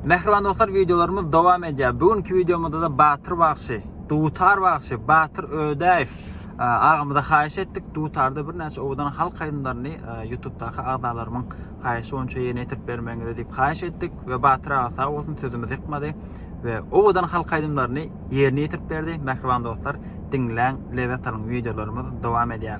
Mähriban dostlar wideolarymyz dowam edýär. Bu günki wideomyzda-da Batyr bagşy, Dutar bagşy, Batyr Ödäýew agamyza haýyş etdik. Dutarda birnäçe owadan halk aýdymlaryny YouTube-daky agzalarymyň haýyşy boýunça ýerine ýetirip bermegiňizi diýip haýyş etdik we Batyr aga sag bolsun sözümizi ýykmady we owadan halk aýdymlaryny ýerine ýetirip berdi. Mähriban dostlar, diňläň, lezzet alyň, wideolarymyz dowam edýär.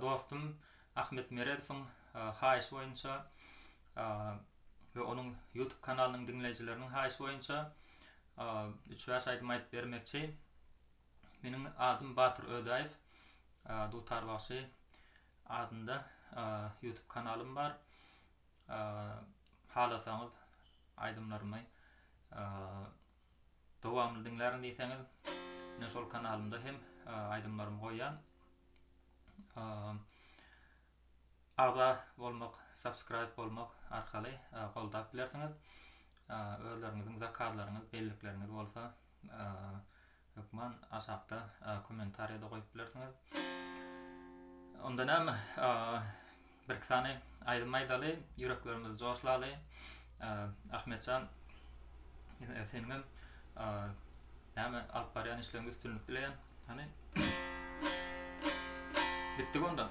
Dostum Ahmet Meredowyň haýyşy boýunça we onuň YouTube kanalynyň diňleýjileriniň haýyşy boýunça üç-bäş aýdym aýdyp bermekçi. Meniň adym Batyr Ödäýew. Dutar bagşy adynda YouTube kanalym bar. Halasaňyz aýdymlarymy Dowamyny diňlärin diýseňiz, men şol kanalymda hem aýdymlarymy goýýan. Agza bolmak, subscribe bolmak arkaly goldap bilersiňiz. Özleriňiziň zakazlaryňyz, bellikleriňiz bolsa hökman aşakda kommentariýada goýup bilersiňiz. Onda näme? Birki sany aýdym aýdaly ýüreklerimizi joşlaly Ahmetjan seniňem näme alyp barýan işleriňde üstünlik dileýän hany Gitdik onda.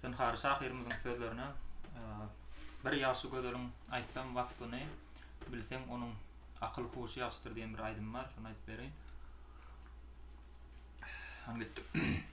Zynhar şahyrymyzyň sözlerine Bir ýagşy gözeliň aýtsam waspyny Bilseň onuň akyl huşy ýagşydyr diýen bir aýdym bar şony aýdyp bereýin. Hany gitdik.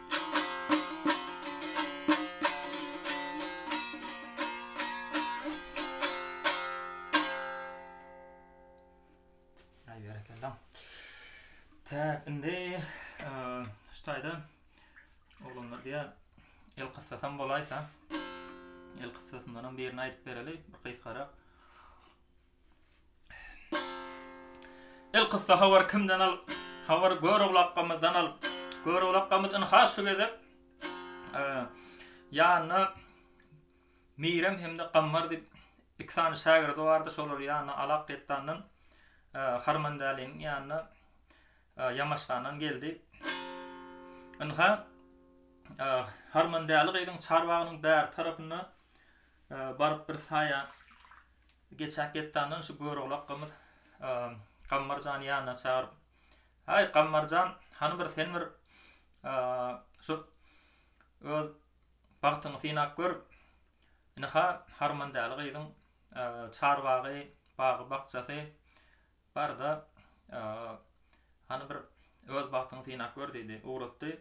Täk indi şu taýda oglanlar diýär el kyssasam bolaýsa el kyssasyndan birini aýdyp bereli bir gysgarak Elkyssa habar kimden al Habar Göroglakamyzdan al Göroglakamyz ynha şu gezek ýanyna Mirem hem-de Gammar diýip iki sany şägirdi bardy şolar ýanyna Alak Getdandan Harmandäliň ýanyna Ýamaşgandan geldi ynha Harmandäli gyzyň çarbagynyň bäri tarapyna baryp bir saýa Geçen getdandan şu görogly akgamyz Gammarjany ýanyna çagyryp, Haý, Gammarjan, hany bir sen bir şu öz bagtyňy synap gör, ynha, harmandäli gyzyň çarbagy, bagy-bakjasy bar-da, hany bir öz bagtyňy synap gör diýdi. Ugratdy.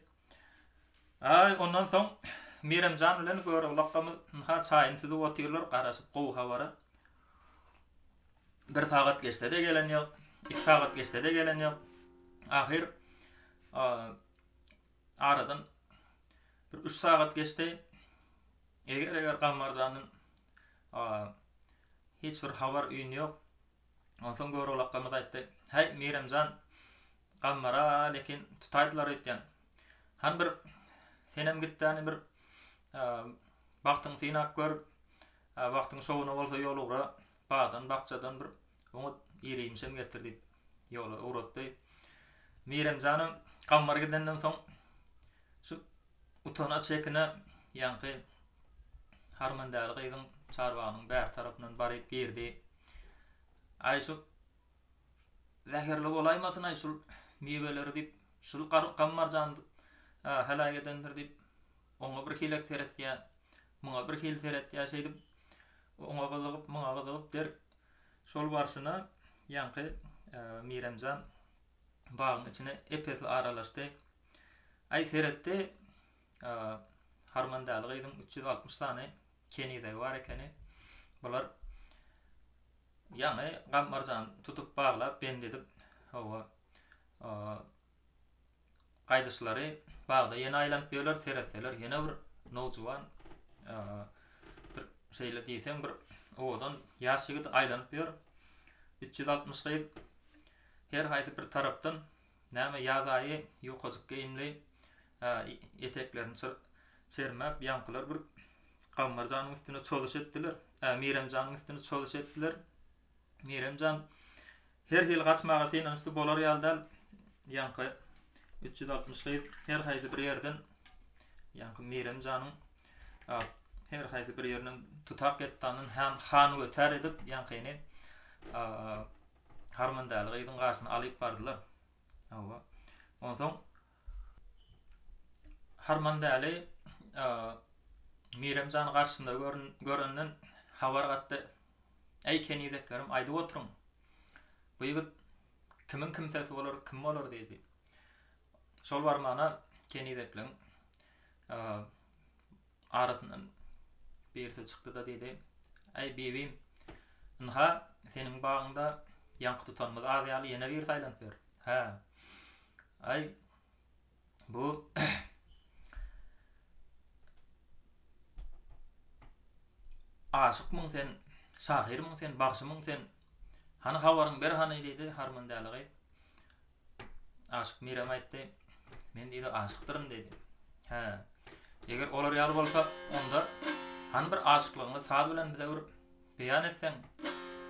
Aý, ondan soň Merem jan bilen Göroglakamyz ynha çaýyny süzüp otyrlar, garaşyp gowy habara. Bir sagat geçse-de gelen ýok, iki sagat geçse-de gelen ýok. Ahyr aradan bir üç sagat geçdi. Eger-eger Gammar jandan hiç bir habar-üýn ýok, Onsoň Görogly akgamyz aýtdy, Häý, Mirem jan, gammara lekin tutaýdylar öýtýän. Hany bir senem git-däni bir bagtyňy synap gör, wagtyň şowuna bolsa ýol ugra, bagdan, bakjadan bir oňat ir-iýmişem getir diýip, ýola ugratdy. Mirem janam gammara gidenden soň şu utana, çekine ýaňky harman däli gyzyň çarbagynyň bärtarapyndan baryp girdi. Aý şul zäherli bolaýmasyn-aý şul miweleri diýip, şul gammarjan heläk edendir diýip, oňa bir hilek seretýär, muňa bir hil seretýär, şeýdip, oňa gyzygyp, muňa gyzygyp der. Şol barşyna ýaňky Miremjan bagyň içine ep-esli aralaşdy. Aý seretdi, harman däli gyzyň üç ýüz altmyş sany Kenize bar ekeni. Bular ýaňy Gammyrjan tutup baglap, bend edip, hawa, gaýdyşlary bagda ýene aýlanyp ýörler, seretseler ýene bir nowjuwan, bir şeýle diýseň bir owadan ýaş ýigit aýlanyp ýör. Üç ýüz altmyş gyz her haýsy bir tarapdan Näme ýaz aýy ýukajyk geýimli eteklerini çermäp ýaňkylar bir Gammar janyň üstüne çozuş etdiler. Mirem janyň üstüne çozuş etdiler. Mirem jan her hili gaçmaga synanyşdy bolar ýaly däl. Ýaňky 360 gyz her haýsy bir ýerden ýaňky Mirem janyň her haýsy bir ýerinden tutak etdaninden han götär edip ýaňkyny Harmandaly gyzyň garşyna alyp bardylar. Hawa. Onsoň Harmandaly Mirem jany garşyna görenden habar gatdy. Eý kenizeklerim, aýdyp oturyň. Bu ýigit kimiň kimsesi bolar, kim bolar diýdi. Şol barmana kenizekleň Arasyndan birisi çykdy-da diýdi, Äý, Bibim, ynha, seniň bagyňda ýaňky tutanymyz az ýaly ýene biri saýlanyp ýör. Hä. Äý, bu Aşykmyň sen, şahyrmyň sen, bagşymyň sen? Hany habaryňy ber hany diýdi, harmandäli gyz. Aşyk Mirem aýtdy. Men diýdi aşykdyryn diýdi. Hä. Eger olar ýaly bolsa, onda han bir aşyklygyňy saz bilen bize bir beýan etseň.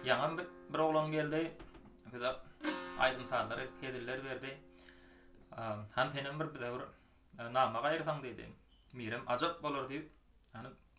Ýaňam bir oglan geldi. Bize aýdym sazlar edip heziller berdi. Han senem bir bize bir e, nama gaýyrsaň diýdi. Mirem ajap bolar diýip, ýani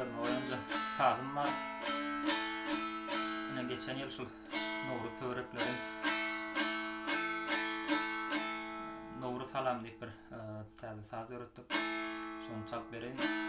Özüme oýunjak sazym bar. Ine geçen ýyl şul Nowruz töwerekleri Nowruz salam diýip bir e, täze saz döretdik. Şony çalyp bereýin.